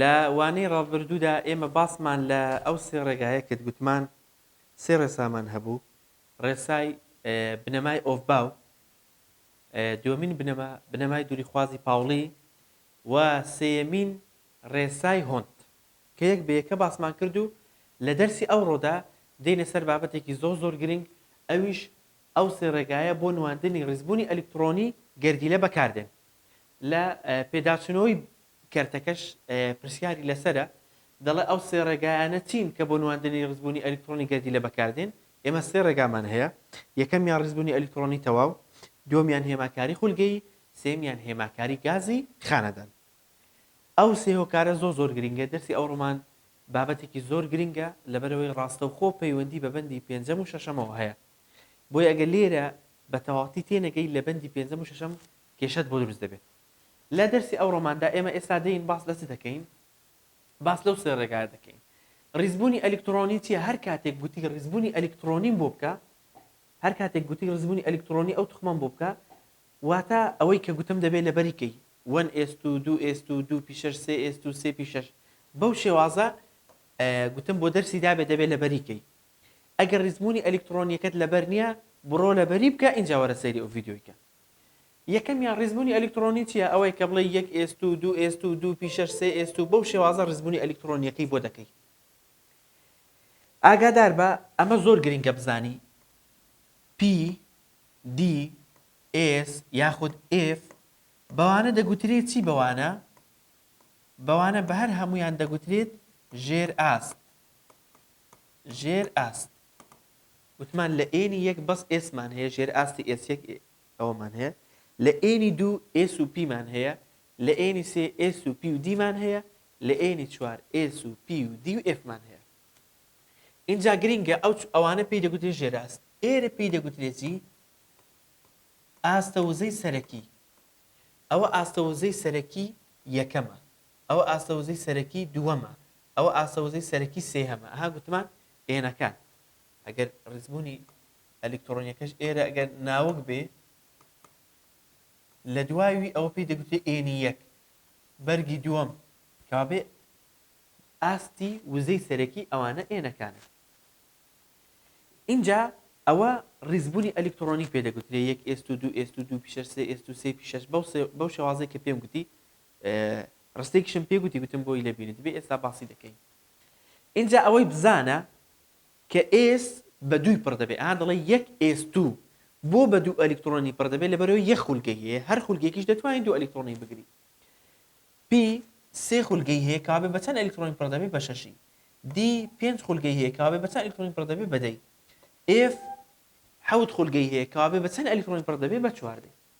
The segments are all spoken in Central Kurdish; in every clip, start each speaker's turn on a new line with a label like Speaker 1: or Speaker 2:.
Speaker 1: لە وانەی ڕابردوودا ئێمە باسمان لە ئەو سێ ڕێگایە کرد گوتمان سێ ڕێسامان هەبوو ڕێسای بنەمای ئۆفباو دووەمین بنەما بنەمای دووریخوازی پاوڵی و سێیەمین ڕێسای هۆنت کە یەک بە یەکە باسمان کرد و لە دەرسی ئەوڕۆدا دێینە سەر بابەتێکی زۆر زۆر گرنگ ئەویش ئەو سێ ڕێگایە بۆ نواندنی ڕیزبوونی ئەلیکتڕۆنی گەردیلە بەکاردێن. لە پێداچوونەوەی کەرتەکەش پرسیاری لەسەرە، دەڵێت ئەو سێ ڕێگایانە چین کە بۆ نواندنی ڕیزبوونی ئەلیکترۆنی گەردیلە بەکاردێن؟ ئێمە سێ ڕێگامان هەیە، یەکەمیان ڕیزبوونی ئەلیکترۆنی تەواو، دووەمیان هێماکاری خولگەیی، سێیەمیان هێماکاری گازی خانەدان. ئەو سێ هۆکارە زۆر زۆر گرنگە، دەرسی ئەو ڕۆمان بابەتێکی زۆر گرنگە لەبەرئەوەی ڕاستەوخۆ پەیوەندی بە بەندی پێنجەم و شەشەمەوە هەیە، بۆیە ئەگەر لێرە بە تەواوەتی تێنەگەی لە بەندی پێنجەم و شەشەم کێشەت بۆ دروست دەبێت. لە دەرسی ئەو ڕۆماندا ئێمە ئێستا دێین باس لە چ دەکەین؟ باس لەو سێ ڕێگایە دەکەین. ڕیزبوونی ئەلیکتڕۆنی چییە؟ هەر کاتێک گوتی ڕیزبوونی ئەلیکتڕۆنیم بۆ بکە، هەر کاتێک گوتی ڕیزبوونی ئەلیکتڕۆنی ئەو توخمەم بۆ بکە، واتە ئەوەی کە گوتم دەبێ لە بەری کەی، وەن ئێس توو، دوو ئێس توو، دوو پی شەش، سێ ئێس توو، سێ پی شەش. بەو شێوازە گوتم بۆ دەرسی دابێ دەبێ لە بەری کەی. ئەگەر ڕیزبوونی ئەلیکتڕۆنییەکەت لە بەر نییە، بڕۆ لە بەری بکە ئینجا وەرە سەیری ئەو ڤیدیۆی کە. یەکەمیان ڕیزبوونی ئەلیکتڕۆنی چیە ئەوەی کە بڵێی یەک ئێست و دوو ئێست و دوو پیشەش سێ ئێست و بەو شێوازە ڕیزبوونی ئەلیکتڕۆنیەکەی بۆ دەکەی ئاگادار بە ئەمە زۆر گرنگە بزانی پی دی ئێس یاخود ئف بەوانە دەگوترێت چی بەوانە بەوانە بە هەر هەمویان دەگوترێت ژێر ئاست ژێر ئاست وتمان لە ئێنی یەک بەس ئێسمان هەیە ژێر ئاستی ئێس یەک ئێ ئەوەمان هەیە لە ئێنی دوو ئێس و پیمان هەیە لە ئێنی سێ ئێس و پی و دیمان هەیە لە ئێنی چوار ئێس و پی و دی و ئێفمان هەیە ئینجا گرینگە ئەو چ ئەوانە پێی دەگوترێ ژێر ئاست ئێرە پێی دەگوترێ جی ئاستە وزەی سەرەکی ئەوە ئاستە وزەی سەرەکی یەکەمە ئەوە ئاستە وزەی سەرەکی دووەمە ئەوە ئاستە وزەی سەرەکی سێهەمە ها گوتمان ئێنەکان ئەگەر ڕیزبوونی ئەلیکترۆنیەکەش ئێرە ئەگەر ناوک بێ لە دوای وی ئەوە پێی دەگوترێ ئێنی یەک بەرگی دووەم کابێ ئاستی وزەی سەرەکی ئەوانە ئێنەکانە ئینجا ئەوە ڕیزبوونی ئەلیکترۆنی پێ دەگوترێ یەک ئێست و دوو ئێست و دوو پیشەر سێ ئێست و سێ پیشەش بەو شێوازێک کە پێم گوتی ڕستێکیشم پێ گوتی گوتم بۆی لە بینت بێ ئێستا باسی دەکەین ئینجا ئەوەی بزانە کە ئێس بە دووی پڕ دەبێت ئەها دەڵێ یەک ئێس دوو بۆ بە دوو ئەلیکتڕۆنی پڕ دەبێت لەبەرەوەی یەک خولگەی هەیە هەر خولگەیەکیش دەتوانین دوو ئەلیکتڕۆنی بگری پی سێ خولگەی هەیە کابێ بە چەند ئەلیکتڕۆنی پڕ دەبێت بە شەشی دی پێنج خولگەی هەیە کابێ بە چەند ئەلیکتڕۆنی پڕ دەبێت بە دەی ئێف حەوت خولگەی هەیە کابێ بە چەند ئەلیکتڕۆنی پڕ دەبێت بە چواردەی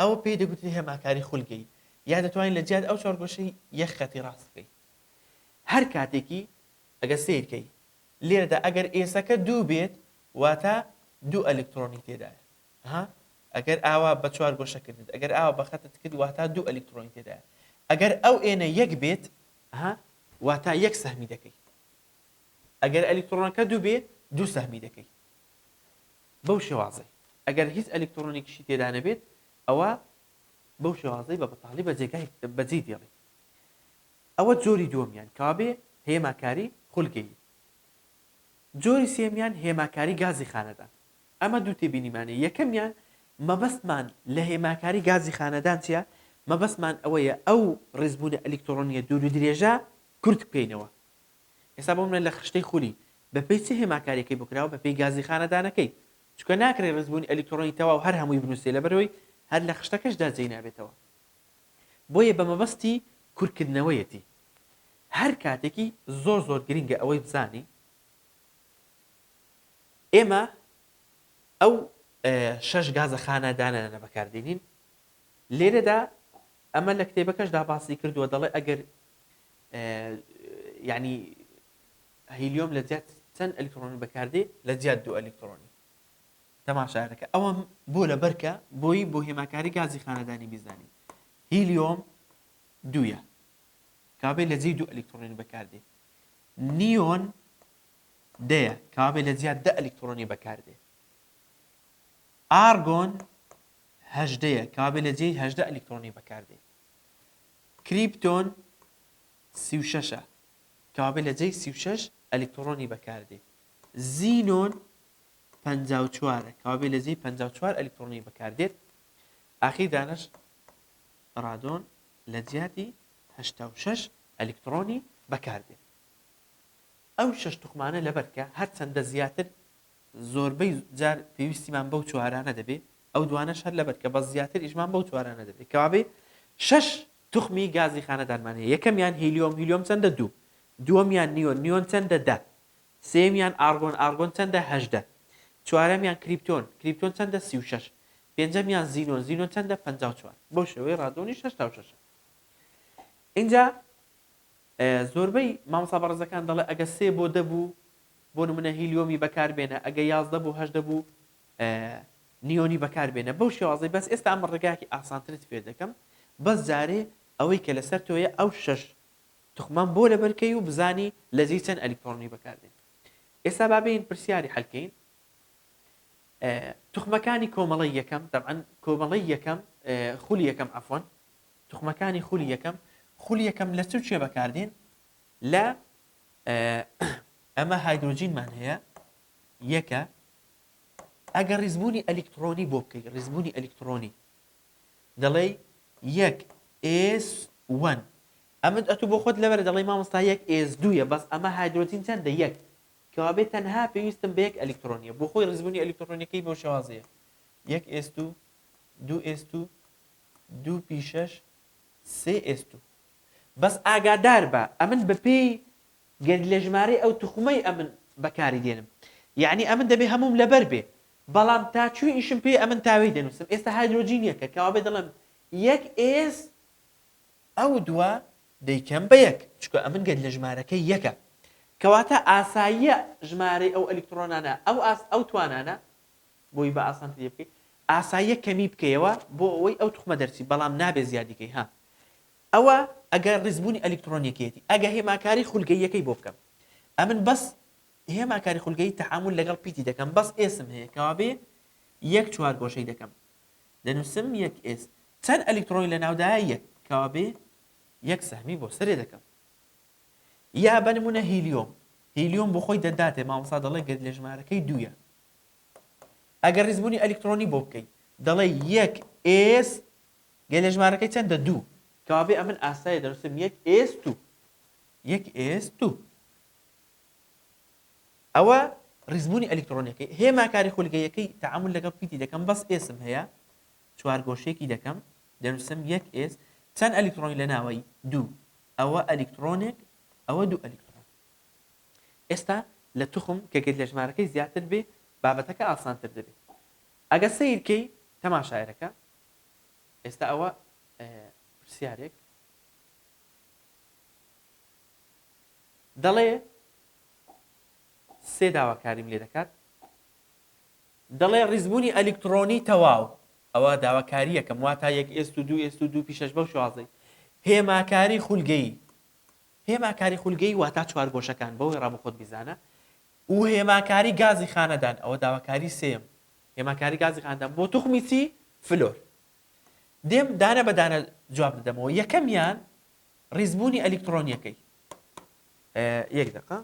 Speaker 1: ئەوە پێی دەگوترێ هێماکاری خولگەیی یان دەتوانی لە جیاتی ئەو چوارگۆشەی یەک خەتی ڕاست بکەی هەر کاتێکی ئەگەر سەیر کەی لێرەدا ئەگەر ئێسەکە دوو بێت واتە دوو ئەلکتڕۆنی تێدایە ها ئەگەر ئاوا بە چوار گۆشە کردت ئەگەر ئاوا بە خەتت کرد واتە دوو ئەلکتڕۆنی تێدایە ئەگەر ئەو ئێنە یەک بێت ها واتە یەک سەهمی دەکەی ئەگەر ئەلکتڕۆنەکە دوو بێ دوو سەهمی دەکەی بەو شێوازەی ئەگەر هیچ ئەلیکترۆنێکیشی تێدا نەبێت ئەوا بەو شێوازەی بە بەتاڵی بە جێگای بە جێی دێڵێت ئەوە جۆری دووەمیان کەوابێ هێماکاری خولگەیی جۆری سێمیان هێماکاری گازی خانەدان ئەمە دوو تێبینیمانەیە یەکەمیان مەبەستمان لە هێماکاری گازی خانەدان چیە مەبەستمان ئەوەیە ئەو ڕێزبوونە ئەلیکترۆنیە دوور و درێژە کورت بکەینەوە ئێستا بۆ منە لە خشتەی خولی بە پێی چ هێماکاریەکەی بۆ کراوە بە پێی گازی خانەدانەکەی چونکە ناکرێ ڕیزبوونی ئەلیکترۆنی تەواو هەر هەمووی بنووسرێ لەبەرئەوەی هەر لە خشتەکەشدا جێی نابێتەوە بۆیە بە مەبەستی کورتکردنەوەیەتی هەر کاتێکی زۆر زۆر گرنگە ئەوەی بزانی ئێمە ئەو شەش گازە خانەدانانە بەکاردێنین لێرەدا ئەمە لە کتێبەکەشدا باسی کردووە دەڵێ ئەگەر یانی هیلیۆم لە جیات چەند ئەلیکترۆنی بەکاردێ لە جیات دوو ئەلیکترۆنی تەماشاەکە ئەوە بۆ لە بەرکە بۆی بۆ هێماکاری گازی خانەدانی بیزانین هیلیۆم دوە کابێ لە جێ دوو ئەلیکترۆنی بەکاردێ نیۆن دەیە کابێ لە جیات دە ئەلیکترۆنی بەکاردێ ئارگۆن هەژدەیە کابێ لە جێی هەژدە ئەلیکترۆنی بەکاردێ کریپتۆن سی و شەش ە کەوابێ لە جێی سی و شەش ئەلیکتڕۆنی بەکاردێ زینۆن پەنجا و چوار ە کەوابێ لە جێی پەنجا و چوار ئەلیکتڕۆنی بەکاردێت ئاخیر دانش ڕادۆن لە جیاتی هەشتا و شەش ئەلیکتڕۆنی بەکاردێت ئەو شەش توخمانە لەبەرکە هەرچەندە زیاتر زۆربەی جار پێویستیمان بەو چوارانە دەبێ ئەو دوانەش هەر لەبەر کە بەس زیاتر ئیشمان بەو چوارانە دەبێت کەوابێ شەش توخمی گازی خانەدانمان هەیە یەکەمیان هیلیۆم هیلیۆم چەندە دوو دووەمیان نیۆن نیۆن چەندە دە سێمیان ئارگۆن ئارگۆن چەندە هەژدە چوارەمیان کریپتۆن کریپتۆن چەندە سی و شەش پێنجەمیان زینۆن زینۆن چەندە پەنجا و چوار بەو شێوەی ڕادۆنی شەش تا و شەشە ئینجا زۆربەی مامۆستا بەڕێزەکان دەڵێ ئەگە سێ بۆ دەبوو بۆ نمونە هیلیۆمی بەکاربێنە ئەگە یازدە بۆ هەژدە بوو نیۆنی بەکار بێنە بەو شێوازەی بەس ئێستا ئەمە ڕێگایەکی ئاسانترت فێر دەکەم بەس جارێ ئەوەی کە لەسەر تۆیە ئەو شەش توخمەم بۆ لەبەر کەی و بزانی لە جێی چەند ئەلیکترۆنی بەکار دێن ئێستا با بێین پرسیاری حەلکەین توخمەکانی کۆمەڵی یەکەم دەبعەن کۆمەڵی یەکەم خولی یەکەم ئەفۆن توخمەکانی خولی یەکەم خولی یەکەم لە چ چێ بەکاردێن لە ئەمە هایدروجینمان هەیە یەکە ئەگەر ڕیزبوونی ئەلیکتڕۆنی بۆ بکەی ڕیزبوونی ئەلیکتڕۆنی دەڵێی یەک ئێس وەن ئەمن ئەتوو بۆ خۆت لەبەر دەڵێی مامۆستا یەک ئێس دووە بەس ئەمە هایدرۆجین چەندە یەک کەوابێت تەنها پێویستم بە یەک ئەلیکتڕۆنیە بۆ خۆی ڕیزبوونی ئەلیکتڕۆنیەکەی بەو شێوازەیە یەک ئێس دوو دوو ئێس دوو دوو پیشەش سێ ئێس دوو بەس ئاگادار بە ئەمن بەپێی گەر لە ژمارەی ئەو توخمەی ئەمن بەکاری دێنم یەعنی ئەمن دەبێ هەمووم لەبەر بێ بەڵام تا چوی ئیشم پێیە ئەمن تاوێی دەنوسم ئێستا هایدرۆجین یەکە کەوابێ دەڵێم یەک ئێس ئەو دووە دەیکەم بە یەک چونکە ئەمن گەر لە ژمارەکەی یەکە کەواتە ئاساییە ژمارەی ئەو ئەلیکتڕۆنانە ئەو ئاست ئەو توانانە بۆی بە ئاسانتر لێ بکەی ئاساییە کەمی بکەیەوە بۆ ئەوەی ئەو توخمە دەرچی بەڵام نابێ زیادی کەی ها ئەوە ئەگە ڕیزبوونی ئەلیکتڕۆنیەکەیەتی ئەگە هێماکاری خولگەییەکەی بۆ بکەم ئەمن بەس هێماکاری خولگەیی تەعامول لەگەڵ پیتی دەکەم بەس ئێسم هەیە کەوابێ یەک چوارگۆشەی دەکەم دەنوسم یەک ئێس چەند ئەلیکتڕۆنی لەناودایە یەک کەوابێ یەک سەهمی بۆ سەرێ دەکەم یا بە نمونە هیلیۆم هیلیۆم بۆ خۆی دەداتێ مامۆستا دەڵێ گەر لە ژمارەکەی دوویە ئەگەر ڕیزبوونی ئەلیکتڕۆنی بۆ بکەی دەڵێ یەک ئێس گەلێ ژمارەکەی چەندە دوو. کەوابێ ئەمن ئاسایە دەنووسم یەک ئێس تو. یەک ئێس تو. ئەوە ڕیزبوونی ئەلیکتڕۆنیەکەی. هێما کاری خولگەییەکەی تەعامول لەگەڵ پیتی دەکەم بەس ئێسم هەیە چوارگۆشەیەکی دەکەم دەنووسم یەک ئێس چەند ئەلیکتڕۆنی لە ناوە دوو ئەوە ئەلیکتڕۆنێک ئەوە دوو ئەلیکتڕۆن. ئێستا لە توخم کە گەلێ ژمارەکەی زیاتر بێ بابەتەکە ئاسانتر دەبێ. ئەگە سەیر کەی تەماشایەرەکە ئێستا ئەوە پرسیارێک دەڵێ سێ داواکاریم لێ دەکات دەڵێ ڕیزبوونی ئەلیکترۆنی تەواو ئەوە داواکاریەکەم وا تا یەک ئێست و دوو ئێست و دوو پیشش بەو شازەی هێماکاری خولگەی هێماکاری خولگەی وا تا چوار گۆشەکان بەوەی ڕام خۆت بیزانە و هێماکاری گازی خانەدان، ئەوە داواکاری سێیەم، هێماکاری گازی خانەدان بۆ توخمی چی؟ فلۆر. دێم دانە بە دانە جواب دەدەمەوە، یەکەمیان ڕیزبوونی ئەلیکتڕۆنیەکەی. یەک دەقە.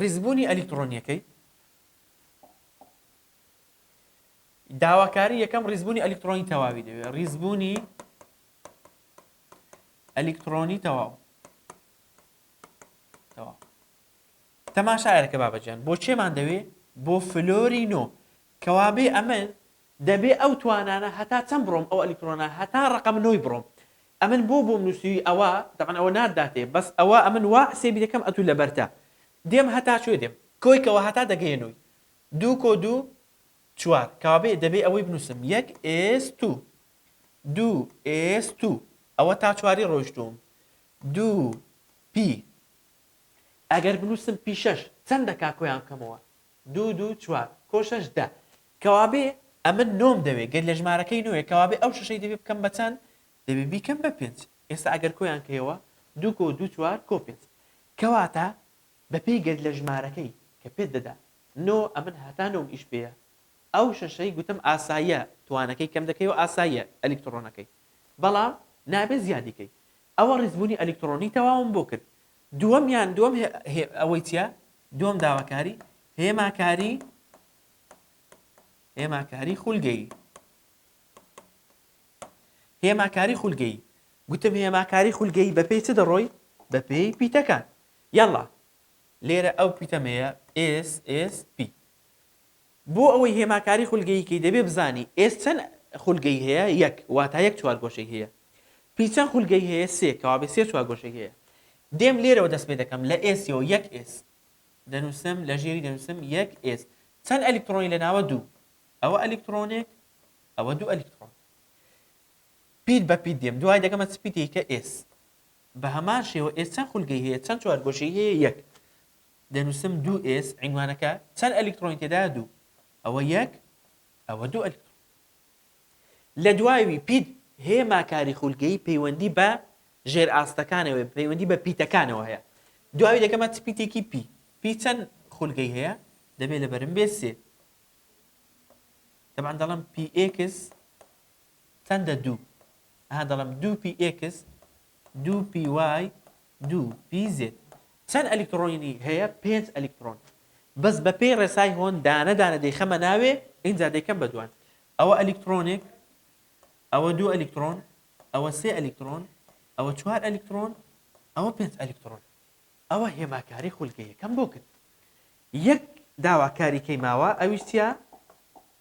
Speaker 1: ڕیزبوونی ئەلیکتڕۆنیەکەی. داواکاری یەکەم ڕیزبوونی ئەلیکترۆنی تەواوی دەوێت ڕیزبوونی ئەلیکترۆنی تەواو تەواو تەماشایەکە بابەجان بۆ چێمان دەوێ بۆ فلۆری نۆ کەوابێ ئەمە دەبێ ئەو توانانە هەتا چەند بڕۆم ئەو ئەلیکترۆنا هەتا ڕقم نۆی بڕۆم ئەمن بۆ بۆم نووسوی ئەوە دەبن ئەوە ناداتێ بەس ئەوە ئەمن وا حسێبی دەکەم ئەتوو لەبەرتە دێم هەتا شوێ دێم کۆیکەوە هەتا دەگەێنەوەی دوو کۆ دوو چوار. کابێ دەبێ ئەوەی بنووسم یەک ئێستوو. دوو ئێستوو. ئەوە تا چواری ڕۆیشتووم. دوو پی. ئەگەر بنووسم پی شەش چەند دەکا کۆیان بکەمەوە؟ دوو دوو چوار. کۆ شەش دە. کەوابێ ئەمە نۆم دەوێ گەر لە ژمارەکەی نۆیە کەوابێ ئەو شەشەی دەبێ بکەم بە چەند؟ دەبێ بیکەم بە پێنج. ئێستا ئەگەر کۆیان کەیەوە دوو کۆ دوو چوار کۆ پێنج. کەواتە بەپێی گەرد لە ژمارەکەی کە پێت دەدا نۆ ئەمن هەتا نۆم ئیش پێیە ئەو شەشەی گوتم ئاساییە توانەکەی کەم دەکەیەوە ئاساییە ئەلیکتڕۆنەکەی بەڵام نابێ زیادی کەی ئەوە ڕیزبوونی ئەلیکتڕۆنی تەواوم بۆ کرد دووەمیان دووەم ئەوەی چیە دووەم داواکاری هێماکاری هێماکاری خولگەیی هێماکاری خولگەیی گوتم هێماکاری خولگەیی بەپێی چ دەڕۆی بەپێی پیتەکان یەڵا لێرە ئەو پیتەمەیە ئێس ئێس پی بۆ ئەوەی هێماکاری خولگەیی کەی دەبێ بزانی ئێس چەن خولگەی هەیە یەک واتا یەک چوارگۆشەی هەیە پی چەن خولگەی هەیە سێ کەوابێ سێ چوارگۆشەی هەیە دێم لێرەوە دەست پێ دەکەم لە ئێسیەوە یەک ئێس دەنووسم لە ژێری دەنووسم یەک ئێس چەن ئەلیکترۆنی لە ناوە دوو ئەوە ئەلیکترۆنێک ئەوە دوو ئەلیکترۆن پیت بە پیت دێم دوای دەکەمە چ پیتێکە ئێس بەهەمان شێوە ئێس چەند خولگەی هەیە؟ چەند چوارگۆشەی هەیە؟ یەک. دەنووسم دوو ئێس، عینوانەکە چەند ئەلیکترۆنی تێدایە؟ دوو. ئەوە یەک، ئەوە دوو ئەلیکترۆن. لە دوایوی پیت هێما کاری خولگەیی پەیوەندی بە ژێرئاستەکانەوە، پەیوەندی بە پیتەکانەوە هەیە. دوایوی دەکەمە چ پیتێکی؟ پی. پی چەند خولگەی هەیە؟ دەبێت لەبەرم بێت سێ. تەبعەن دەڵێم پی ئێکس چەندە دوو ئەها دەڵێم دوو پی ئێکس دوو پی وای دوو پی زێد چەند ئەلیکتڕۆنی هەیە پێنج ئەلیکتڕۆن بەس بە پێی ڕێسای هۆن دانە دانە دەیخەمە ناوێ ئینجا دەیکەم بە دوان ئەوە ئەلیکتڕۆنێک ئەوە دوو ئەلیکتڕۆن ئەوە سێ ئەلیکتڕۆن ئەوە چوار ئەلیکتڕۆن ئەوە پێنج ئەلیکتڕۆن ئەوە هێماکاری خولگە یەکەم بۆ کرد یەک داواکاریکەی ماوە ئەویش چیە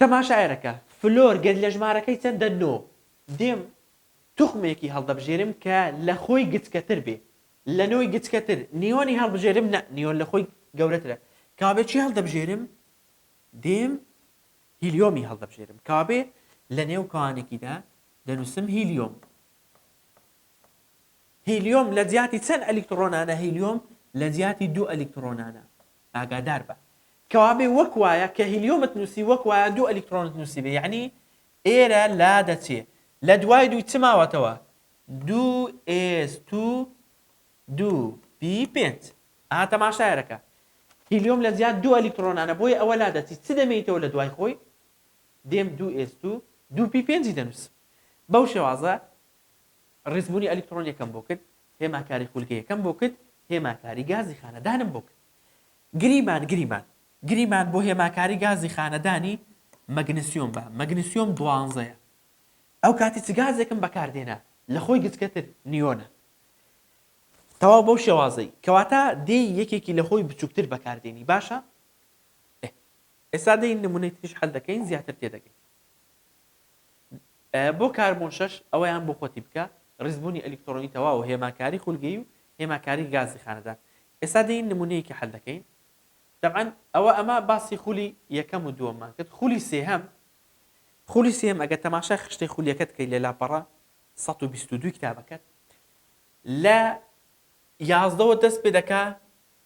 Speaker 1: تەماشائەرەکە، فلۆر گەد لە ژمارەکەی چەندە نۆ، دێم توخمێکی هەڵدەبژێرم کە لە خۆی گچکەتر بێ، لە نۆی گچکەتر، نیۆنی هەڵبژێرم نا، نیۆن لە خۆی گەورەترە، کەوابێ چی هەڵدەبژێرم؟ دێم هیلیۆمی هەڵدەبژێرم، کەوابێ لە نێو کەوانێکیدا دەنووسم هیلیۆم. هیلیۆم لە جیاتی چەند ئەلیکتڕۆنانە؟ هیلیۆم لە جیاتی دوو ئەلیکتڕۆنانە، ئاگادار بە کەوابێ وەک وایە کە هیلیۆمت نووسی وەک وایە دوو ئەلیکترۆنت نووسیبێ یەعنی ئێرە لا دەچێ لە دوای دوو چ ماوەتەوە دوو ئێس توو دوو پی پێنج ئا تەماشایەرە کە هیلیۆم لە جیات دوو ئەلیکترۆنانە بۆیە ئەوە لا دەچی چ دەمێیتەوە لە دوای خۆی دێم دوو ئێس توو دوو پی پێنجی دەنووسم بەو شێوازە ڕیزبوونی ئەلیکترۆنیەکەم بۆ کرد، هێماکاری خولگەیەکەم بۆ کرد، هێماکاری گازی خانەدانم بۆ کرد. گریمان گریمان گریمان بۆ هێماکاری گازی خانەدانی مەگنسیۆم بە، مەگنسیۆم دوانزەیە. ئەوکاتی چ گازێکم بەکار دێنا، لە خۆی گچکەتر، نیۆنە. تەواو بەو شێوازەی. کەواتە دێی یەکێکی لە خۆی بچووکتر بەکار دێنی، باشە؟ ئێ. ئێستا دێین نموونەی تریش حەل دەکەین زیاتر تێدەگەین. بۆ کاربۆن شەش، ئەوەیان بۆ خۆتی بکە، ڕیزبوونی ئەلیکترۆنی تەواو و هێماکاری خولگەیی و هێماکاری گازی خانەدان. ئێستا دێین نموونەیەکی حەل دەکەین. تەبعەن ئەوە ئەمە باسی خولی یەکەم و دووەممان کرد. خولی سێهەم. خولی سێهەم ئەگەر تەماشای خشتەی خولیەکەت بکەیت لە لاپەڕە سەد و بیست و دوو کتابەکەت، لە یازدەوە دەست پێ دەکا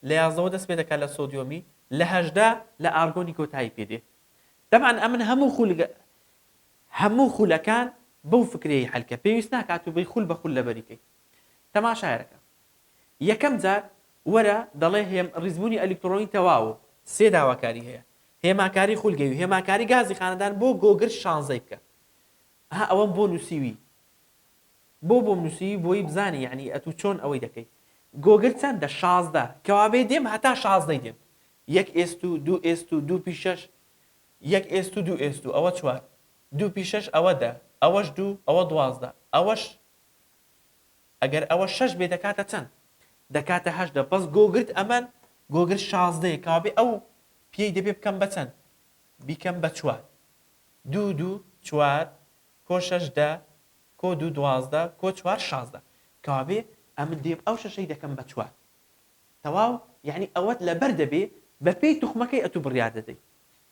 Speaker 1: لە یازدەوە دەست پێ دەکا لە سۆدیۆمی، لە هەژدە لە ئارگۆنی کۆتایی پێ دێ. تەبعەن ئەمن هەموو خولگە هەموو خولەکان بەو فکرەی حەلکە پێویست ناکات و بەی خول بە خول لەبەری کەی تەماشایەرەکە یەکەم جار وەرە دەڵێ هێم ڕیزبوونی ئەلیکتڕۆنی تەواو و سێ داواکاری هەیە هێماکاری خولگەی و هێماکاری گازی خانەدان بۆ گۆگرد شانزەی بکە ها ئەوەم بۆ نووسیوی بۆ بۆم نووسیوی بۆی بزانی یەعنی ئەتوو چۆن ئەوەی دەکەی گۆگرد چەندە شازدە کەوابێ دێم هەتا شازدەی دێم یەک ئێست و دوو ئێست و دوو پیشەش یەک ئێست و دوو ئێست و ئەوە چوار. دوو پی شەش ئەوە دە. ئەوەش دوو، ئەوە دوازدە. ئەوەش ئەگەر ئەوە شەش بێ دەکاتە چەند؟ دەکاتە هەژدە. بەس گۆگرد ئەمەن، گۆگرد شازدەیە. کەوابێ ئەو پییەی دەبێ بکەم بە چەند؟ بیکەم بە چوار. دوو و دوو چوار، کۆ شەش دە، کۆ دوو دوازدە، کۆ چوار شازدە. کەوابێ ئەمن دێم ئەو شەشەی دەکەم بە چوار. تەواو؟ یانی ئەوەت لەبەر دەبێ بەپێی توخمەکەی ئەتوو بڕیار دەدەیت.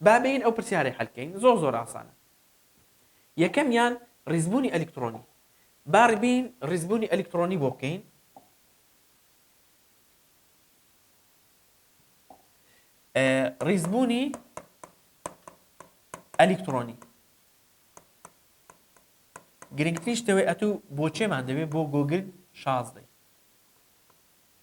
Speaker 1: با بێین ئەو پرسیارەی حەل کەین زۆر زۆر ئاسانە یەکەمیان ڕیزبوونی ئەلیکترۆنی با ڕبین ڕیزبوونی ئەلیکترۆنی بۆ بکەین ڕیزبوونی ئەلیکترۆنی گرنگترین شتەوەی ئەتوو بۆچێمان دەوێت بۆ گۆگل شازدەی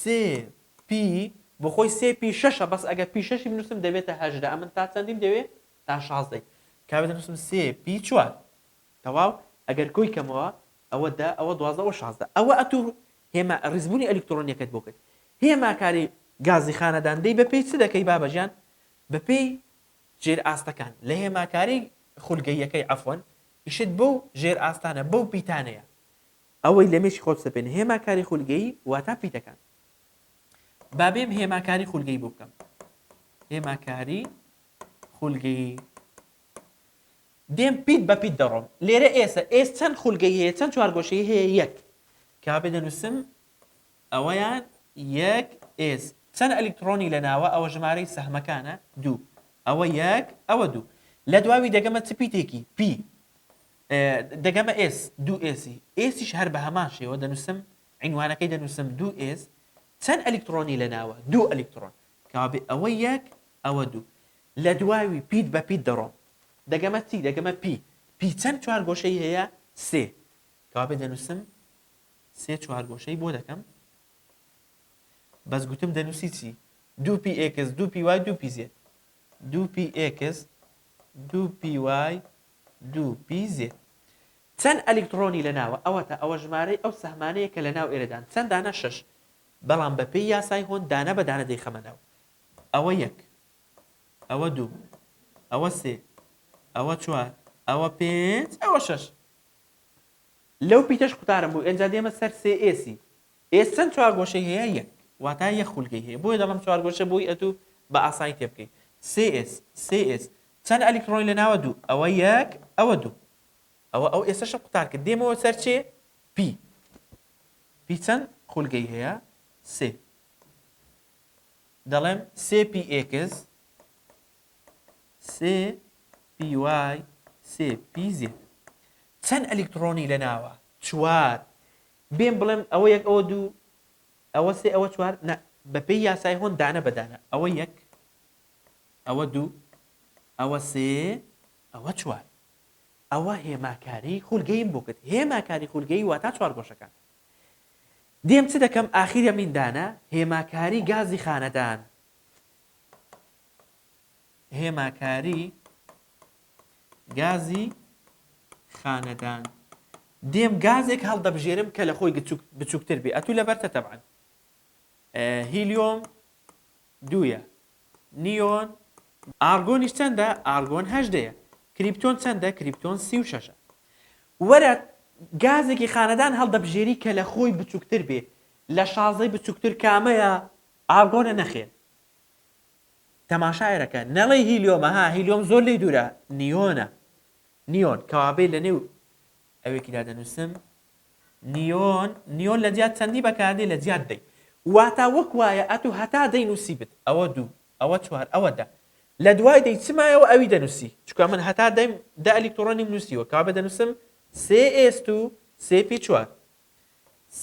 Speaker 1: سێ پی بۆخۆی سێ پی شەشە بەس ئەگەر پی شەشی بنوسم دەبێتە هەژدە ئەمن تا چەندیم دەوێ تا شازدەی کابێ دەنوسم سێ پی چوار تەواو ئەگەر کۆی کەمەوە ئەوە دە ئەوە دوازدە ئەوە شازدە ئەوە ئەتو هێما ڕیزبونی ئەلیکترۆنیەکەت بۆ کرد هێما کاری گازی خانەدان دەی بەپێی چ دەکەی بابەجان بەپێی ژێر ئاستەکان لە هێماکاری خولگەییەکەی عەفوەن ئیشت بەو ژێر ئاستانە بەو پیتانەیە ئەوەی لە مێشکی خۆت سەپێنێ هێما کاری خولگەیی واتا پیتەکان با بێم هێما کاری خولگەی بۆ بکەم هێما کاری خولگەیی دێم پیت بە پیت دەڕۆم لێرە ئێسە ئێس چەند خولگەی هەیە چەند چوارگۆشەی هەیە یەک کا بێ دەنووسم ئەوەیان یەک ئێس چەند ئەلیکترۆنی لە ناوە ئەوە ژمارەی سەهمەکانە دوو ئەوە یەک ئەوە دوو لە دواوی دەگەمە چ پیتێکی پی دەگەمە ئێس، دوو ئێسی، ئێسیش هەر بە هەمان شێوە دەنووسم، عینوانەکەی دەنووسم، دوو ئێس، چەند ئەلیکتڕۆنی لە ناوە؟ دوو ئەلیکتڕۆن، کەوابێ ئەوە یەک، ئەوە دوو. لە دوواوی پیت بە پیت دەڕۆم. دەگەمە تی، دەگەمە پی، پی چەند چوارگۆشەی هەیە؟ سێ، کەوابێ دەنووسم، سێ چوارگۆشەی بۆ دەکەم، بەس گوتم دەنووسی چی؟ دوو پی ئێکس، دوو پی وای، دوو پی زێد. دوو پی ئێکس، دوو پی وای، دوو پی زێد چەند ئەلیکتڕۆنی لەناوە، ئەوەتا ئەوە ژمارەی ئەو سەهمانەیە کە لەناو ئێرەدان، چەند دانە شەش، بەڵام بەپێی یاسای هۆند دانە بە دانە دەیخەمە ناو، ئەوە یەک، ئەوە دوو، ئەوە سێ، ئەوە چوار، ئەوە پێنج، ئەوە شەش. لەو پیتەش قوتارم بوو، ئێنجا دێمە سەر سێ ئێسی، ئێ چەند چوارگۆشەی هەیە یەک واتا یەک خولگەی هەیە بۆیە دەڵێم چوارگۆشە بۆی ئەتوو بە ئاسانی تێبگەی سێ ئێس سێ ئێس چەند ئەلیکتڕۆنی لەناوە دوو ئەوە یەک ئەوە دوو ئەوە ئەو ئێسەشم قوتار کرد دێمەوە سەر چێ پی پی چەند خولگەی هەیە سێ دەڵێم سێ پی ئێکس سێ پی وای سێ پی زێت چەند ئەلیکتڕۆنی لەناوە چوار بێم بڵێم ئەوە یەک ئەوە دوو ئەوە سێ ئەوە چوار نا بە پێی یاسای هۆن دانە بە دانە ئەوە یەک ئەوە دوو ئەوە سێ ئەوە چوار ئەوە هێماکاری خولگەیم بۆ کرد هێماکاری خولگەی واتا چوار گۆشەکان دێم چ دەکەم ئاخیرە میندانە هێماکاری گازی خانەدان هێماکاری گازی خانەدان دێم گازێک هەڵدەبژێرم کە لە خۆی بچووکتر بێ ئەتوو لەبەرتە تەبان هیلیۆم دویە نیۆن ئارگۆنیش چەندە ئارگۆن هەشدەیە کریپتۆن چەندە کریپتۆن سی و شەشە وەرە گازێکی خانەدان هەڵدەبژێری کە لە خۆی بچووکتر بێ لە شازەی بچووکتر کامەیە ئارگۆنە نەخێ تەماشایەرەکە نەڵێی هیلیۆمە ها هیلیۆم زۆر لێی دوورە نیۆنە نیۆن کەوابێ لە نێو ئەوێکیدا دەنووسم نیۆن نیۆن لە جیات چەندی بەکاردێ لە جیات دەی واتا وەک وایە ئەتو هەتا دەی نووسی بت ئەوە دوو ئەوە چوار ئەوە دە لە دوای دەی چمایەوە ئەوی دەنووسی چکە من هەتا دەیم دە ئەلیکترۆنیم نووسیوە کابێ دەنووسم سێ ئێست و سێ پی چوار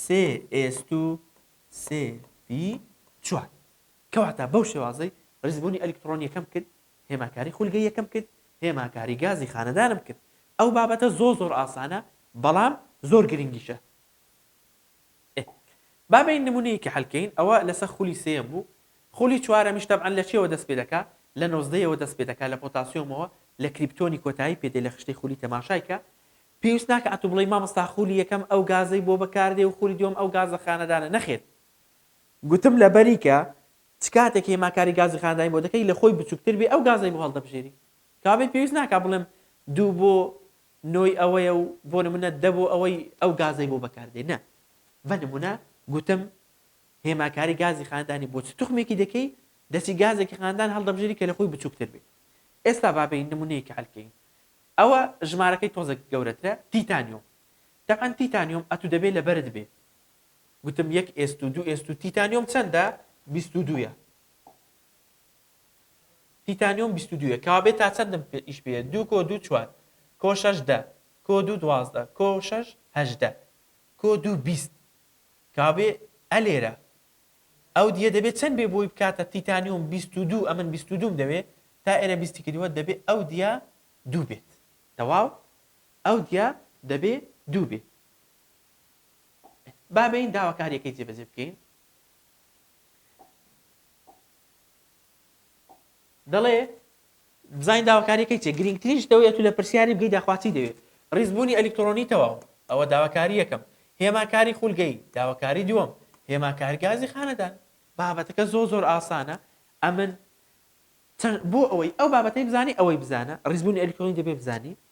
Speaker 1: سێ ئێست و سێ پی چوار کەواتە بەو شێوازەی بەرزبوونی ئەلیکتڕۆنیەکەم کرد، هێماکاری خولگەییەکەم کرد، هێماکاری گازی خانەدانم کرد. ئەو بابەتە زۆر زۆر ئاسانە بەڵام زۆر گرنگیشە. ئێ با بەین نمونەیەکی حەل کەین ئەوە لەسە خولی سێیەم بوو خولی چوارەمیش تەبعەن لە چیەوە دەست پێ دەکا لە نۆزدەیەوە دەست پێ دەکا لە پۆتاسیۆمەوە لە کریپتۆنی کۆتایی پێ دێ لە خشتەی خولی تەماشای کە پێویست ناکا ئەتوو بڵێی مامۆستا خولی یەکەم ئەو گازەی بۆ بەکار دێ و خولی دووەم ئەو گازە خانەدانە نەخێر گوتم لەبەری کە چ کاتێک هێماکاری گازی خانەدانی بۆ دەکەی لە خۆی بچووکتر بێ ئەو گازەی بۆ هەڵدەبژێری کابێ پێویست ناکا بڵێم دوو بۆ نۆی ئەوەیە و بۆ نموونە دە بۆ ئەوەی ئەو گازەی بۆ بەکاردێ نە بە نموونە گوتم هێماکاری گازی خانەدانی بۆ چ توخمێکی دەکەی دەچی گازێکی خانەدان هەڵدەبژێری کە لە خۆی بچووکتر بێ ئێستا با بێین نموونەیەکی حەل کەین ئەوە ژمارەکەی تۆزێک گەورەترە تیتانیۆم تەبعەن تیتانیۆم ئەتوو دەبێ لەبەرت بێ گوتم یەک ئێست و دوو ئێست و تیتانیۆم چەندە؟ بیست و دوویە. تیتانیۆم بیست و دوویە. کەوابێ تا چەندم ئیش پێ یە؟ دوو کۆ دوو چوار. کۆ شەش دە. کۆ دوو دوازدە. کۆ شەش هەژدە. کۆ دوو بیست. کەوابێ ئەلێرە ئەو دیە دەبێ چەند بێ بۆی بکاتە تیتانیۆم بیست و دوو ئەمن بیست و دووم دەوێ تا ئێرە بیستی کردیوە دەبێ ئەو دیە دوو بێت. تەواو؟ ئەو دیە دەبێ دوو بێ. با بێین داواکارییەکەی جێبەجێ بکەین. دەڵێ بزانین داواکاریەکەی چێ گرنگترین شتەوەیە تو لە پرسیاری بگەی داخواچی دەوێت ڕیزبوونی ئەلیکترۆنی تەواو ئەوە داواکاری یەکەم هێماکاری خولگەی داواکاری دووەم هێماکار گازی خانەدان بابەتەکە زۆ زۆر ئاسانە ئەمن بۆ ئەوەی ئەو بابەتی بزانانی ئەوەی بزانە ڕیزبوونی ئەلیکترۆنی دەبێ بزانانی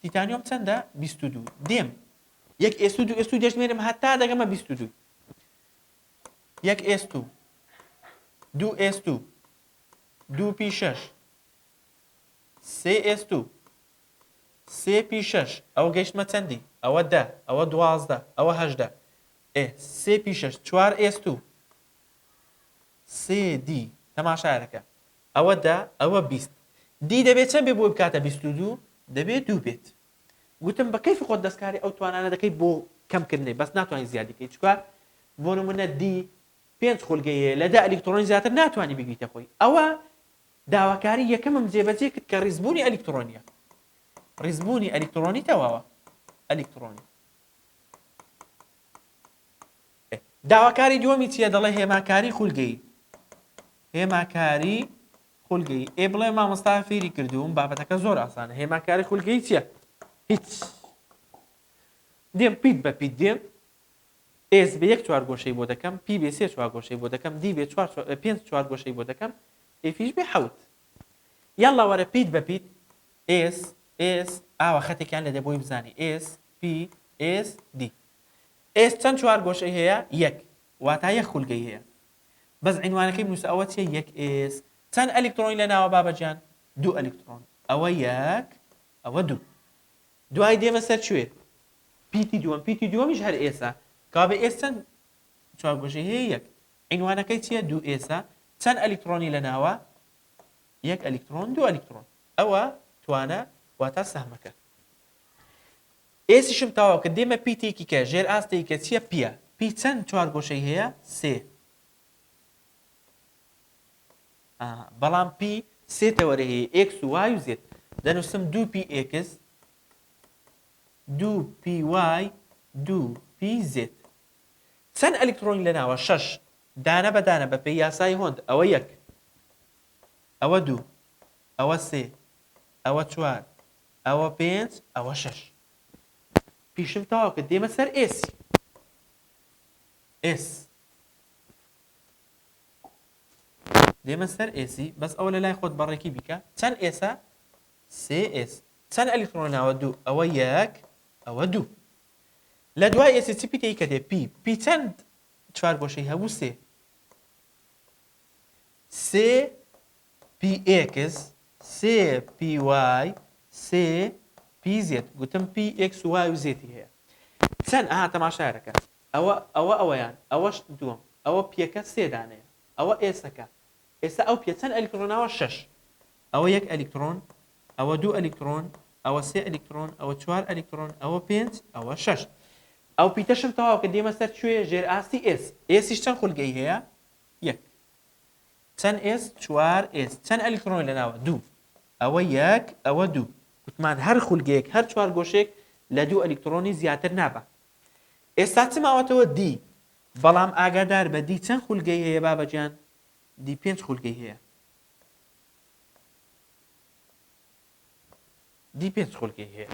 Speaker 1: تیتانیۆم چەندە؟ بیست و دوو. دێم. یەک ئێست و دوو ئێست و دەژمێرم هەتا دەگەمە بیست و دوو. یەک ئێست و دوو ئێست و دوو پی شەش سێ ئێست و سێ پی شەش ئەوە گەشتمە چەندی ئەوە دە ئەوە دوازدە ئەوە هەشدە ئێ سێ پی شەش چوار ئێست و سێ دی تەماشایەکە ئەوە دە، ئەوە بیست. دی دەبێ چەند بێ بۆی بکاتە بیست و دوو؟ دەبێ دوو بێت. گوتم بە کەیفی خۆت دەستکاری ئەو توانانە دەکەی بۆ کەمکردنی، بەس ناتوانی زیادی بکەی، چونکە بۆ نموونە دی پێنج خولگەی هەیە، لە دە ئەلیکتڕۆنی زیاتر ناتوانی بیگریتە خۆی. ئەوە داواکاری یەکەمم جێبەجێ کرد کە ڕیزبوونی ئەلیکتڕۆنییە. ڕیزبوونی ئەلیکتڕۆنی تەواوە. ئەلیکتڕۆنی. داواکاری دووەمی چیە دەڵێ هێماکاری خولگەیی هێماکاری خولگەیی ئێ بڵێ مامۆستا فێری کردووم بابەتەکە زۆر ئاسانە هێماکاری خولگەیی چیە هیچ دێم پیت بە پیت دێم ئێس بە یەک چوار گۆشەی بۆ دەکەم پی بێ سێ چوار گۆشەی بۆ دەکەم دی بێ چوار پێنج چوار گۆشەی بۆ دەکەم ئێفیش بێ حەوت یاڵا وەرە پیت بە پیت ئێس ئێس ئاوە خەتێکیان لێدە بۆی بزانی ئێس پی ئێس دی ئێس چەند چوارگۆشەی هەیە؟ یەک واتا یەک خولگەی هەیە بەس عینوانەکەی بنوسە ئەوە چیە یەک ئێس چەند ئەلیکتڕۆنی لەناوە بابە جان؟ دوو ئەلیکتڕۆن ئەوە یەک ئەوە دوو دوای دێمە سەر کوێ؟ پیتی دووەم پیتی دووەمیش هەر ئێسە کابێ ئێس چەند چوارگۆشەی هەیە یەک عینوانەکەی چیە دوو ئێسە چەند ئەلیکتڕۆنی لەناوە یەک ئەلیکتڕۆن دوو ئەلیکتڕۆن ئەوە توانە واتا سەهمەکە ئێسیشم تەواو کرد دێمە پی تێکی کە ژێر ئاست تێی کە چیە پیە پی چەند چوار گۆشەی هەیە سێ ئاها بەڵام پی سێ تەوەرەی هەیە ئێکس و وای و زێت دەنووسم دوو پی ئێکس دوو پی وای دوو پی زێت چەند ئەلیکترۆنی لەناوە شەش دانە بە دانە بە پێی یاسای هۆند ئەوە یەک ئەوە دوو ئەوە سێ ئەوە چوار ئەوە پێنج ئەوە شەش پیشم تەواو کرد دێمە سەر ئێسی ئێس دێمە سەر ئێسی بەس ئەوە لە لای خۆت بەڕێکی بیکە چەند ئێسە سێ ئێس چەند ئەلیکترۆناوە دوو ئەوە یەک ئەوە دوو لە دوای ئێسی چی پیتەی کە دێ پی پی چەند چوار گۆشەی هەبوو سێ سێ پی ئێکس سێ پی وای سێ پی زێت گوتم پی ئێکس وای و زێتی هەیە چەند ئەها تەماشایەکە ئەوە ئەوە ئەوەیان ئەوەش دووەم ئەوە پیەکە سێ دانەیە ئەوە ئێسەکە ئێستا ئەو پێ چەند ئەلیکترۆناوە شەش ئەوە یەک ئەلیکترۆن ئەوە دوو ئەلیکترۆن ئەوە سێ ئەلیکترۆن ئەوە چوار ئەلیکترۆن ئەوە پێنج ئەوە شەش ئەو پیتەشم تەواو کە دێمە سەر کوێ ژێر ئاستی ئێس ئێسیش چەند خولگەی هەیە یەک. چەند ئێس؟ چوار ئێس. چەند ئەلیکترۆنی لەناوە؟ دوو. ئەوە یەک، ئەوە دوو. گوتمان هەر خولگەیەک، هەر چوارگۆشەیەک لە دوو ئەلیکترۆنی زیاتر نابا. ئێستا چ ماوەتەوە؟ دی. بەڵام ئاگادار بە دی چەند خولگەی هەیە بابەگیان؟ دی پێنج خولگەی هەیە. دی پێنج خولگەی هەیە.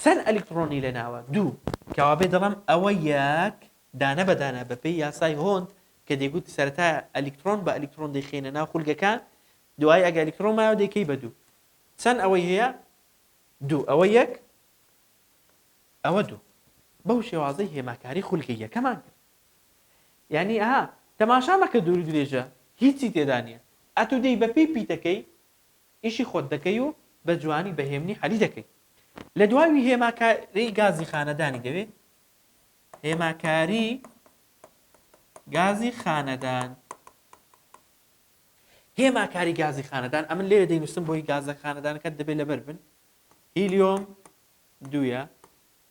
Speaker 1: چەند ئەلیکتڕۆنی لەناوە؟ دوو. کەوابێ دەڵێم ئەوە یەک، دانە بە دانە بە پێی یاسای هۆند کە دەیگوت سەرەتا ئەلیکتڕۆن بە ئەلیکتڕۆن دەیخەینە ناو خولگەکان دوایی ئەگە ئەلیکتڕۆن مایەوە دەیکەی بە دوو. چەند ئەوەی هەیە؟ دوو. ئەوە یەک، ئەوە دوو. بەو شێوازەی هێماکاری خولگە یەکەمان کرد. یانی ئەها، تەماشا مەکە دوورودرێژە هیچی تێدا نییە. ئەتوو دێی بە پێی پیتەکەی ئیشی خۆت دەکەی و بە جوانی بە هێمنی حەلی دەکەی لە دواوی هێماکاری گازی خانەدانی دەوێت هێماکاری گازی خانەدان هێماکاری گازی خانەدان ئەمن لێرە دەینوسم بۆی گازە خانەدانەکەت دەبێت لەبەر بن هیلیۆم دوە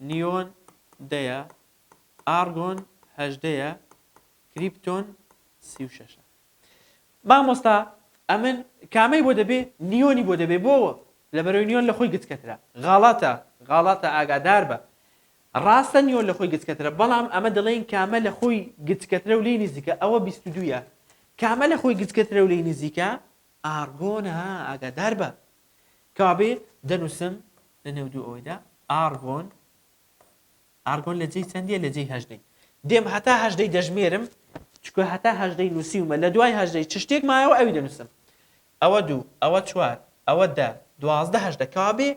Speaker 1: نیۆن دەیە ئارگۆن هەژدەیە کریپتۆن سی و شەشە مامۆستا ئەمن کامەی بۆ دەبێ نیۆنی بۆ دەبێ بۆ لەبەرەوەی نیۆن لە خۆی گچکەترە غاڵەتە غاڵەتە ئاگادار بە ڕاستە نیۆن لە خۆی گچکەترە بەڵام ئەمە دەڵێن کامە لە خۆی گچکەترە و لێی نزیکە ئەوە بیست و دوویە کامە لە خۆی گچکەترە و لێی نزیکە ئارگۆنە ئاگادار بە کەوابێ دەنووسم لە نێو دوو ئەوەیدا ئارگۆن ئارگۆن لە جێی چەندیە لە جێی هەژدەی دێم هەتا هەژدەی دەژمێرم چکە هەتا هەژدەی نووسیومە لە دوای هەژدەی چ شتێک مایەوە ئەوی دەنووسم ئەوە دوو ئەوە چوار ئەوە دە دوازدە هەژدە کەوابێ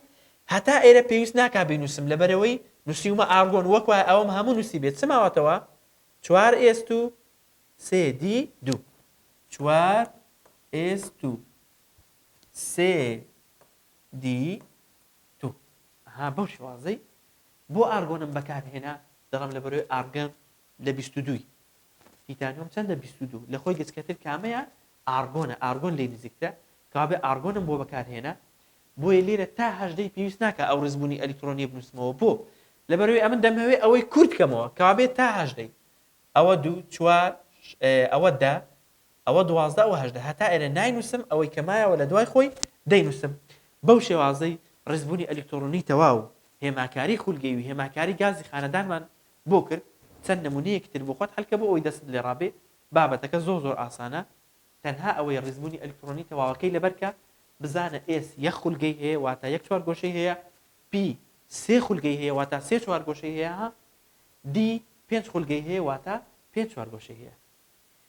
Speaker 1: هەتا ئێرە پێویست ناکا بینووسم لەبەرەوەی نووسیومە ئارگۆن وەک وایە ئەوەم هەموو نووسیبێت چ ماوەتەوە چوار ئێست و سێ دی دوو چوار ئێست و سێ دی دوو ها بەو شێوازەی بۆ ئارگۆنم بەکارهێنا؟ دەڵێم لەبەرەوەی ئارگۆن لە بیست و دووی. تیتانیۆم چەندە بیست و دوو. لەخۆی گچکەتر کامەیە؟ ئارگۆنە. ئارگۆن لێی نزیکترە. کەوابێ ئارگۆنم بۆ بەکارهێنا. بۆیە لێرە تا هەژدەی پێویست ناکا ئەو ڕیزبوونی ئەلیکترۆنییە بنووسمەوە. بۆ؟ لەبەرەوەی ئەمن دەمهەوێ ئەوەی کورت کەمەوە. کەوابێ تا هەژدەی. ئەوە دوو. چوار. ئەوە دە. ئەوە دوازدە ئەوە هەژدە هەتا ئێرە ناینووسم ئەوەی کە مایەوە لە دوای خۆی دەینووسم بەو شێوازەی ڕیزبوونی ئەلیکتۆڕۆنی تەواو و هێماکاری خولگەیی و هێماکاری گازی خانەدانمان بۆ کرد چەند نموونەیەکی تر بۆخۆت حەلکە بۆ ئەوەی دەستت لێ ڕابێ بابەتەکە زۆر زۆر ئاسانە تەنها ئەوەی ڕیزبوونی ئەلیکتڕۆنی تەواوەکەی لەبەر کە بزانە ئێس یەک خولگەی هەیە واتا یەک چوارگۆشەی هەیە پی سێ خولگەی هەیە واتا سێ چوارگۆشەی هەیە دی پێنج خولگەی هەیە واتا پێنج چوارگۆشەی هەیە